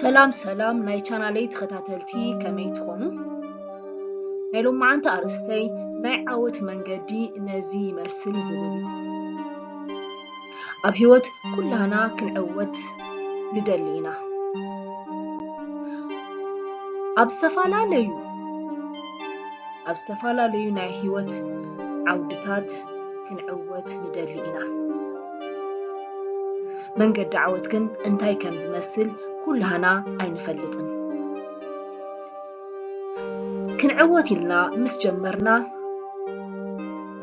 ሰላም ሰላም ናይ ቻናለይ ተኸታተልቲ ከመይ ትኾኑ? ናይ ሎማዓንቲ ኣርእስተይ ናይ ዓወት መንገዲ ነዚ ይመስል ዝብል እዩ። ኣብ ሂወት ኩላህና ክንዕወት ንደሊ ኢና ኣብ ዝተፈላለዩ ኣብ ዝተፈላለዩ ናይ ሂወት ዓውድታት ክንዕወት ንደሊ ኢና መንገዲ ዓወት ግን እንታይ ከም ዝመስል ኩላህና ኣይንፈልጥን ክንዕወት ኢልና ምስ ጀመርና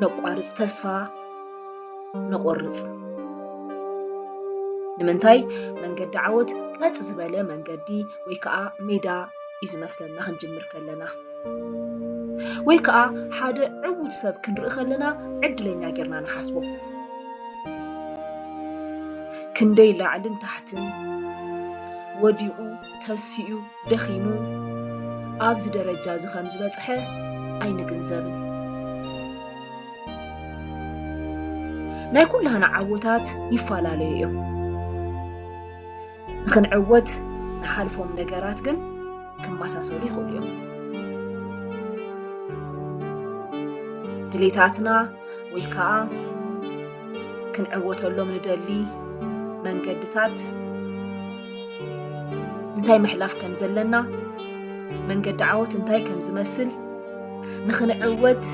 ነቋርፅ ተስፋ ንቆርጽ። ንምንታይ መንገዲ ዓወት ቀጥ ዝበለ መንገዲ ወይ ከዓ ሜዳ እዩ ዝመስለና ክንጅምር ከለና ወይ ከዓ ሓደ ዕዉት ሰብ ክንርኢ ከለና ዕድለኛ ጌርና ንሓስቦ ክንደይ ላዕልን ታሕትን ወዲቑ ተሲኡ ደኺሙ ኣብዚ ደረጃ እዚ ከም ዝበጽሐ ኣይንግንዘብን። ናይ ኩላህና ዓወታት ይፈላለዩ እዮም። ንኽንዕወት ንሓልፎም ነገራት ግን ክመሳሰሉ ይኽእሉ እዮም። ድሌታትና ወይ ከዓ ክንዕወተሎም ንደሊ መንገድታት እንታይ ምሕላፍ ከም ዘለና መንገዲ ዓወት እንታይ ከም ዝመስል ንኽንዕወት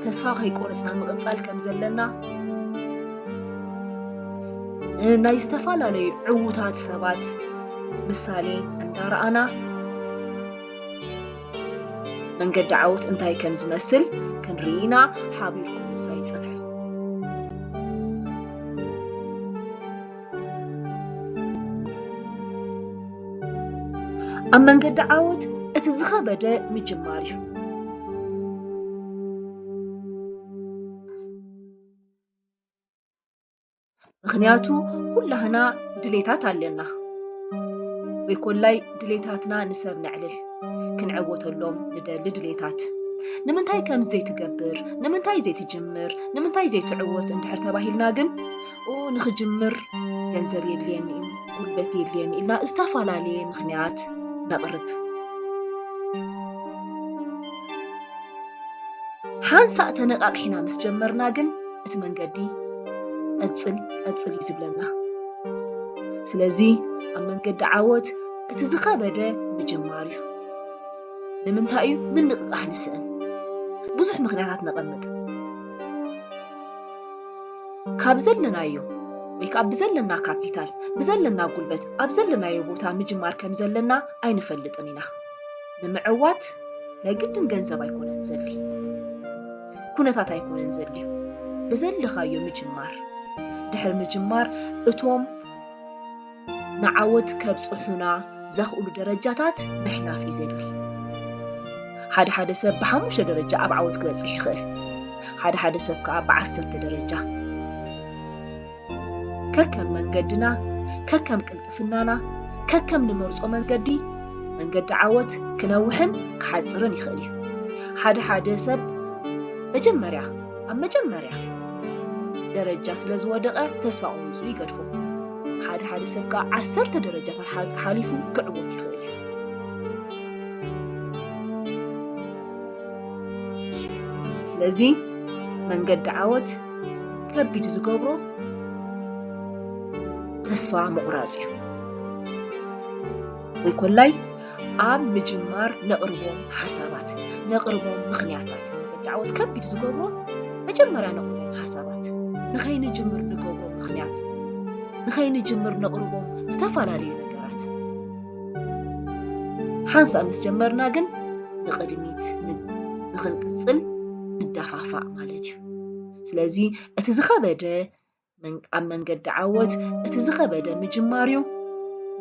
ተስፋ ከይቆርፅና ምቕፃል ከም ዘለና ናይ ዝተፈላለዩ ዕዉታት ሰባት ምሳሌ እንዳረኣና መንገዲ ዓወት እንታይ ከም ዝመስል ክንርኢና ሓቢርኩም ምሳይ ይፅንሑ ኣብ መንገዲ ዓወት እቲ ዝኸበደ ምጅማር እዩ። ምክንያቱ ኩላህና ድሌታት ኣለና ወይ ኮላይ ድሌታትና ንሰብ ነዕልል ክንዕወተሎም ንደሊ ድሌታት ንምንታይ ከምዚ ዘይትገብር ንምንታይ ዘይትጅምር ንምንታይ ዘይትዕወት እንድሕር ተባሂልና ግን ኦ ንኽጅምር ገንዘብ የድልየኒ እዩ፣ ጉልበት የድልየኒ ኢልና ዝተፈላለየ ምኽንያት ነቕርብ። ሓንሳእ ተነቓቒሕና ምስ ጀመርና ግን እቲ መንገዲ ቀጽል ቀጽል እዩ ዝብለና ስለዚ ኣብ መንገዲ ዓወት እቲ ዝኸበደ ምጅማር እዩ ንምንታይ እዩ ምንቕቓሕ ንስእን ብዙሕ ምክንያታት ነቐምጥ ካብ ዘለናዮ ወይ ከዓ ብዘለና ካፒታል፣ ብዘለና ጉልበት፣ ኣብ ዘለናዮ ቦታ ምጅማር ከም ዘለና ኣይንፈልጥን ኢና። ንምዕዋት ናይ ግድን ገንዘብ ኣይኮነን ዘድሊ፣ ኩነታት ኣይኮነን ዘድልዩ፣ ብዘለኻዮ ምጅማር። ድሕሪ ምጅማር እቶም ንዓወት ከብጽሑና ዘኽእሉ ደረጃታት ምሕላፍ እዩ ዘድሊ። ሓደ ሓደ ሰብ ብሓሙሽተ ደረጃ ኣብ ዓወት ክበጽሕ ይኽእል፣ ሓደ ሓደ ሰብ ከኣ ብዓሰርተ ደረጃ። ከከም መንገድና፣ ከከም ቅልጥፍናና፣ ከከም ንመርጾ መንገዲ፣ መንገዲ ዓወት ክነውሕን ክሓጽርን ይኽእል እዩ። ሓደ ሓደ ሰብ መጀመርያ ኣብ መጀመርያ ደረጃ ስለ ዝወደቐ ተስፋ ቁሪጹ ይገድፎ። ሓደ ሓደ ሰብ ከኣ ዓሰርተ ደረጃታት ሓሊፉ ክዕወት ይኽእል እዩ። ስለዚ መንገዲ ዓወት ከቢድ ዝገብሮ ተስፋ ምቑራጽ እዩ። ወይ ኮላይ ኣብ ምጅማር ነቕርቦም ሓሳባት፣ ነቕርቦም ምኽንያታት፣ ንመዳዕወት ከቢድ ዝገብሮ መጀመርያ ነቕርቦም ሓሳባት፣ ንኸይንጅምር ንገብሮ ምኽንያት፣ ንኸይንጅምር ነቕርቦም ዝተፈላለዩ ነገራት። ሓንሳእ ምስ ጀመርና ግን ንቕድሚት ንኽንቅጽል ንዳፋፋእ ማለት እዩ። ስለዚ እቲ ዝኸበደ ኣብ መንገዲ ዓወት እቲ ዝኸበደ ምጅማር እዩ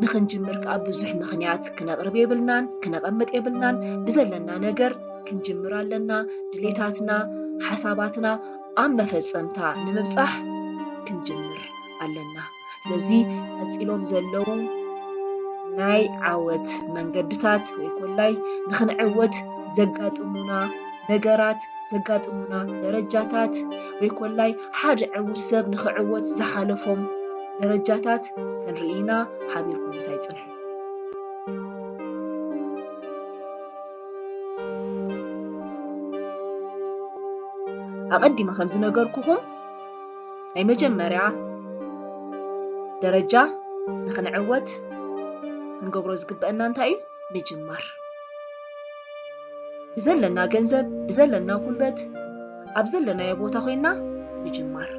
ንኽንጅምር ከዓ ብዙሕ ምኽንያት ክነቕርብ የብልናን ክነቐምጥ የብልናን ብዘለና ነገር ክንጅምር ኣለና ድሌታትና ሓሳባትና ኣብ መፈፀምታ ንምብፃሕ ክንጅምር ኣለና ስለዚ ቀፂሎም ዘለዉ ናይ ዓወት መንገድታት ወይ ኮላይ ንኽንዕወት ዘጋጥሙና ነገራት ዘጋጥሙና ደረጃታት ወይ ኮላይ ሓደ ዕዉት ሰብ ንኽዕወት ዝሓለፎም ደረጃታት ክንርኢ ኢና ሓቢርኩም ምሳይ ጽንሑ። ኣቐዲመ ከም ዝነገርኩኹም ናይ መጀመርያ ደረጃ ንኽንዕወት ክንገብሮ ዝግበአና እንታይ እዩ ምጅማር ብዘለና ገንዘብ ብዘለና ጉልበት ኣብ ዘለናዮ ቦታ ኮይና ምጅማር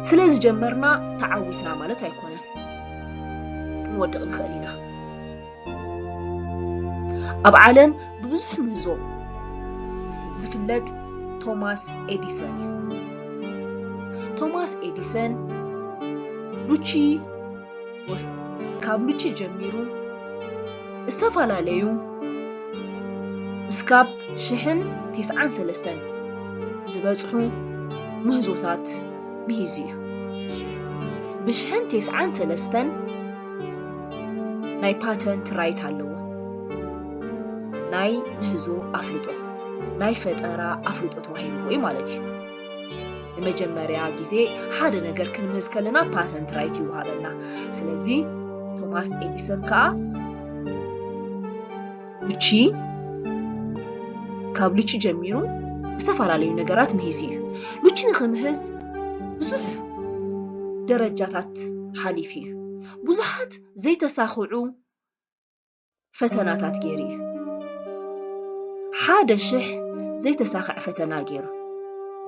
ስለ ዝጀመርና ተዓዊትና ማለት ኣይኮነን ክንወድቕ ንኽእል ኢና። ኣብ ዓለም ብብዙሕ ምህዞ ዝፍለጥ ቶማስ ኤዲሰን እዩ። ቶማስ ኤዲሰን ሉቺ ካብ ሉቺ ጀሚሩ ዝተፈላለዩ እስካብ ሽሕን ቴስዓን ሰለስተን ዝበፅሑ ምህዞታት ምሂዙ እዩ። ብሽሕን ቴስዓን ሰለስተን ናይ ፓተንት ራይት ኣለዎ። ናይ ምህዞ ኣፍልጦ ናይ ፈጠራ ኣፍልጦ ተዋሂብዎ እዩ ማለት እዩ። ንመጀመርያ ግዜ ሓደ ነገር ክንምህዝ ከለና ፓተንት ራይት ይወሃበና። ስለዚ ቶማስ ኤዲሰን ከዓ ልቺ ካብ ልቺ ጀሚሩ ዝተፈላለዩ ነገራት ምሂዝ እዩ ልቺ ንክምህዝ ብዙሕ ደረጃታት ሓሊፍ እዩ ብዙሓት ዘይተሳኽዑ ፈተናታት ገይሩ እዩ ሓደ ሽሕ ዘይተሳኽዐ ፈተና ገይሩ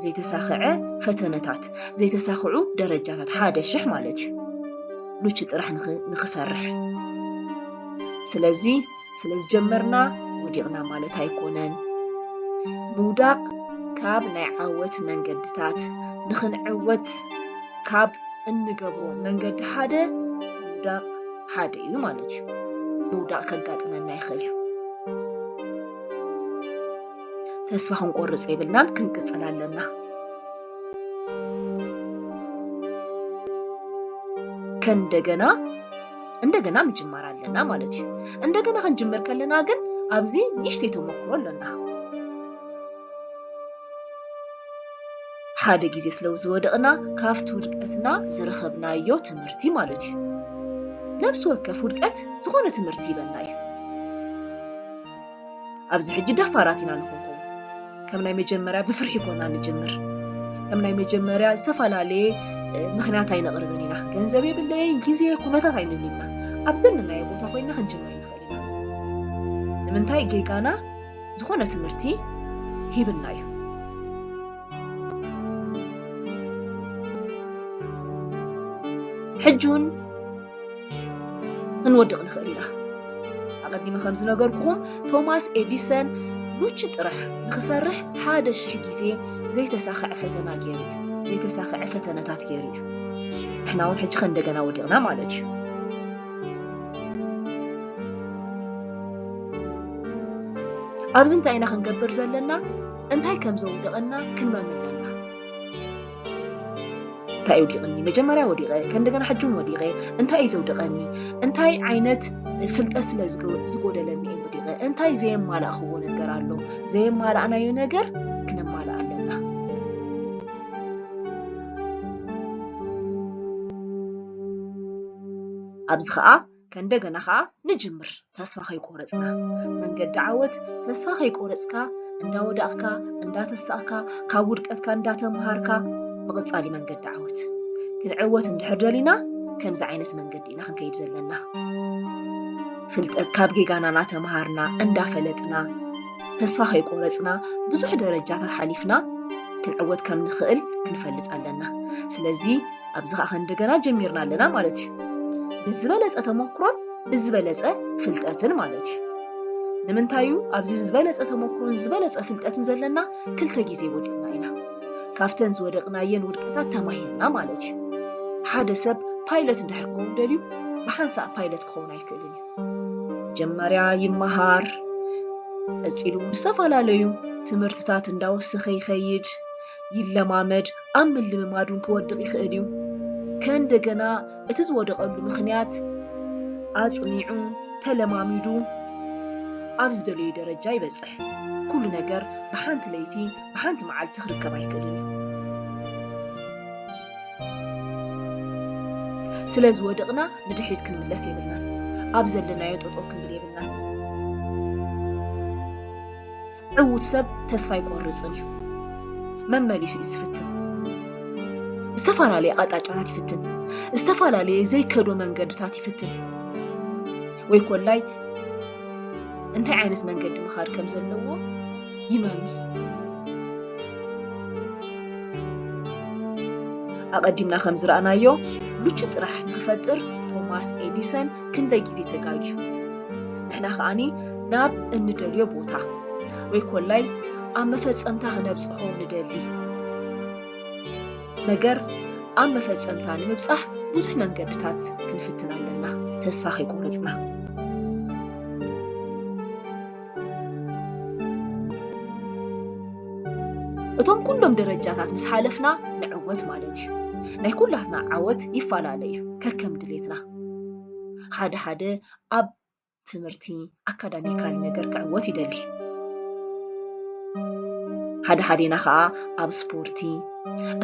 ዘይተሳኽዐ ፈተነታት ዘይተሳኽዑ ደረጃታት ሓደ ሽሕ ማለት እዩ ልቺ ጥራሕ ንክሰርሕ ስለዚ ስለ ዝጀመርና ወዲቕና ማለት ኣይኮነን። ምውዳቕ ካብ ናይ ዓወት መንገድታት ንኽንዕወት ካብ እንገብሮ መንገዲ ሓደ ምውዳቕ ሓደ እዩ ማለት እዩ። ምውዳቕ ከጋጥመና ይኽእል እዩ። ተስፋ ክንቆርፅ የብልናን፣ ክንቅፅል ኣለና። ከእንደገና እንደገና ምጅማር ኣለና ማለት እዩ። እንደገና ክንጅምር ከለና ግን ኣብዚ ንእሽተይ ተመክሮ ኣለና። ሓደ ግዜ ስለ ዝወደቕና ካብቲ ውድቀትና ዝረኸብናዮ ትምህርቲ ማለት እዩ። ነፍሲ ወከፍ ውድቀት ዝኾነ ትምህርቲ ይበና እዩ። ኣብዚ ሕጂ ደፋራት ኢና ንኾንኮም ከም ናይ መጀመርያ ብፍርሒ ኮና ንጅምር ከም ናይ መጀመርያ ዝተፈላለየ ምክንያት ኣይነቕርብን ኢና ገንዘብ የብለይ ግዜ ኩነታት ኣይንብል ኢና ኣብ ዘለናዮ ቦታ ኮይና ክንጅምር ንኽእል ኢና ንምንታይ ጌጋና ዝኾነ ትምህርቲ ሂብና እዩ ሕጂ እውን ክንወድቕ ንኽእል ኢና ኣቐዲመ ከም ዝነገርኩኹም ቶማስ ኤዲሰን ኑቺ ጥራሕ ንኽሰርሕ ሓደ ሽሕ ግዜ ዘይተሳኽዐ ፈተና ገይሩ እዩ ዘይተሳኽዐ ፈተነታት ገይሩ እዩ ንሕና እውን ሕጂ ከእንደገና ወዲቕና ማለት እዩ ኣብዚ እንታይ ኢና ክንገብር ዘለና እንታይ ከም ዘውድቐና ክንመም ኣለና። እንታይ እዩ ወዲቕኒ? መጀመርያ ወዲቐ፣ ከእንደገና ሕጂ እውን ወዲቐ። እንታይ እዩ ዘውድቐኒ? እንታይ ዓይነት ፍልጠት ስለ ዝጎደለኒ እዩ ወዲቐ? እንታይ ዘየማላእኽዎ ነገር ኣሎ? ዘየማላእናዮ ነገር ክነማልእ ኣለና። ኣብዚ ከዓ ከእንደገና ከኣ ንጅምር ተስፋ ከይቆረጽና መንገዲ ዓወት ተስፋ ከይቆረጽካ እንዳወዳቅካ እንዳተሳእካ ካብ ውድቀትካ እንዳተምሃርካ ምቕጻል እዩ መንገዲ ዓወት ክንዕወት እንድሕር ደሊና ከምዚ ዓይነት መንገዲ ኢና ክንከይድ ዘለና ፍልጠት ካብ ጌጋና እናተምሃርና እንዳፈለጥና ተስፋ ከይቆረፅና ብዙሕ ደረጃታት ሓሊፍና ክንዕወት ከም ንኽእል ክንፈልጥ ኣለና ስለዚ ኣብዚ ከዓ ከእንደገና ጀሚርና ኣለና ማለት እዩ ብዝበለፀ ተሞክሮን ብዝበለፀ ፍልጠትን ማለት እዩ ንምንታይ እዩ ኣብዚ ዝበለፀ ተሞክሮን ዝበለፀ ፍልጠትን ዘለና ክልተ ግዜ ወዲቕና ኢና ካብተን ዝወደቕናየን ውድቀታት ተማሂርና ማለት እዩ ሓደ ሰብ ፓይለት እንድሕር ክኸውን ደልዩ ብሓንሳእ ፓይለት ክኸውን ኣይክእልን እዩ መጀመርያ ይመሃር ቀፂሉ ዝተፈላለዩ ትምህርትታት እንዳወሰኸ ይኸይድ ይለማመድ ኣብ ምልምማድ እውን ክወድቕ ይኽእል እዩ። ከእንደገና እቲ ዝወደቐሉ ምኽንያት ኣጽኒዑ ተለማሚዱ ኣብ ዝደለዮ ደረጃ ይበጽሕ። ኩሉ ነገር ብሓንቲ ለይቲ ብሓንቲ መዓልቲ ክርከብ ኣይክእልን እዩ። ስለ ዝወደቕና ንድሕሪት ክንምለስ የብልናን። ኣብ ዘለናዮ ጠጠው ክንብል የብልናን። ዕዉት ሰብ ተስፋ ኣይቆርጽን እዩ። መመሊሱ እዩ ዝፍትን። ዝተፈላለየ ኣቕጣጫታት ይፍትን። ዝተፈላለየ ዘይከዶ መንገድታት ይፍትን። ወይ ኮላይ እንታይ ዓይነት መንገዲ ምኻድ ከም ዘለዎ ይመሚ። ኣቐዲምና ከም ዝረኣናዮ ምቹ ጥራሕ ንክፈጥር ቶማስ ኤዲሰን ክንደይ ግዜ ተጋጊዩ ንሕና ከኣኒ ናብ እንደልዮ ቦታ ወይ ኮላይ ኣብ መፈጸምታ ክነብጽሖ ንደሊ ነገር ኣብ መፈጸምታ ንምብጻሕ ብዙሕ መንገድታት ክንፍትን ኣለና ተስፋ ከይቆረጽና እቶም ኩሎም ደረጃታት ምስ ሓለፍና ንዕወት ማለት እዩ ናይ ኩላትና ዓወት ይፈላለ እዩ ከከም ድሌትና ሓደ ሓደ ኣብ ትምህርቲ ኣካዳሚካል ነገር ክዕወት ይደሊ ሓደ ሓደና ከዓ ኣብ ስፖርቲ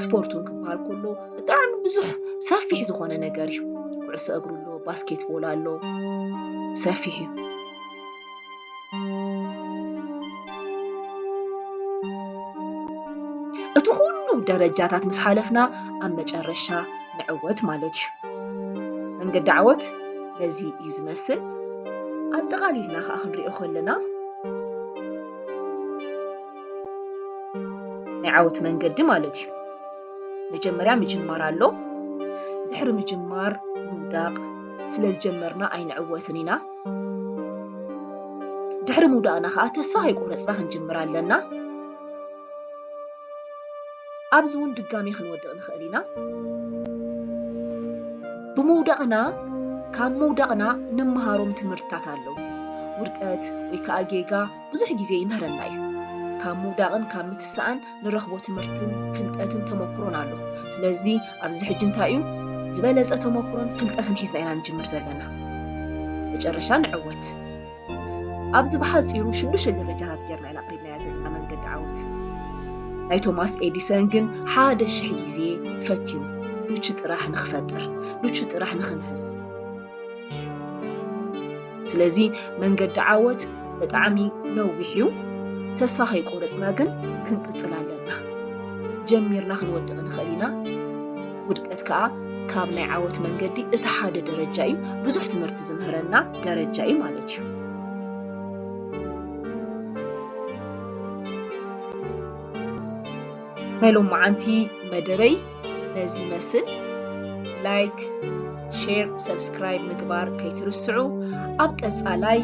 ስፖርት እውን ክበሃል ከሎ ብጣዕሚ ብዙሕ ሰፊሕ ዝኾነ ነገር እዩ ኩዕሶ እግሪ ኣሎ ባስኬትቦል ኣሎ ሰፊሕ እዩ እቲ ኩሉ ደረጃታት ምስ ሓለፍና ኣብ መጨረሻ ንዕወት ማለት እዩ መንገዲ ዓወት በዚ እዩ ዝመስል ኣጠቓሊልና ከዓ ክንሪኦ ከለና ናይ ዓወት መንገዲ ማለት እዩ መጀመርያ ምጅማር ኣሎ ድሕሪ ምጅማር ምውዳቕ ስለ ዝጀመርና ኣይንዕወትን ኢና ድሕሪ ምውዳቕና ከዓ ተስፋ ከይቆረፅና ክንጅምር ኣለና። ኣብዚ እውን ድጋሜ ክንወድቕ ንኽእል ኢና። ብምውዳቕና ካብ ምውዳቕና ንመሃሮም ትምህርትታት ኣለዉ። ውድቀት ወይ ከዓ ጌጋ ብዙሕ ግዜ ይምህረና እዩ። ካብ ምውዳቕን ካብ ምትሳእን ንረኽቦ ትምህርትን ፍልጠትን ተመኩሮን ኣሎ። ስለዚ ኣብዚ ሕጂ እንታይ እዩ ዝበለጸ ተመኩሮን ፍልጠትን ሒዝና ኢና ንጅምር ዘለና። መጨረሻ ንዕወት። ኣብዚ ብሓጺሩ ሽዱሽተ ደረጃታት ጌርና ኢና ኣቕሪብናያ ዘለና መንገዲ ዓወት። ናይ ቶማስ ኤዲሰን ግን ሓደ ሽሕ ግዜ ፈቲኑ። ሉቹ ጥራሕ ንክፈጥር፣ ሉቹ ጥራሕ ንክምህዝ። ስለዚ መንገዲ ዓወት ብጣዕሚ ነዊሕ እዩ ተስፋ ከይቆረፅና ግን ክንቅፅል ኣለና ጀሚርና ክንወድቕ ንኽእል ኢና ውድቀት ከዓ ካብ ናይ ዓወት መንገዲ እቲ ሓደ ደረጃ እዩ ብዙሕ ትምህርቲ ዝምህረና ደረጃ እዩ ማለት እዩ ናይ ሎመዓንቲ መደበይ ነዚ ይመስል ላይክ ሼር ሰብስክራይብ ምግባር ከይትርስዑ ኣብ ቀጻላይ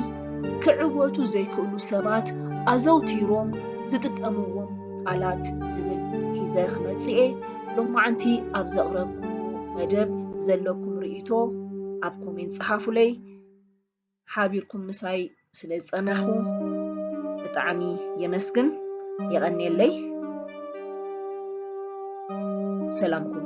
ክዕወቱ ዘይክእሉ ሰባት ኣዘውቲሮም ዝጥቀምዎም ቃላት ዝብል ሒዘ ክመጽእ እየ ሎማዓንቲ ኣብ ዘቕረብኩ መደብ ዘለኩም ርእይቶ ኣብ ኮሜንት ጽሓፉለይ ሓቢርኩም ምሳይ ስለ ዝጸናሕኩ ብጣዕሚ የመስግን የቐንየለይ ሰላምኩም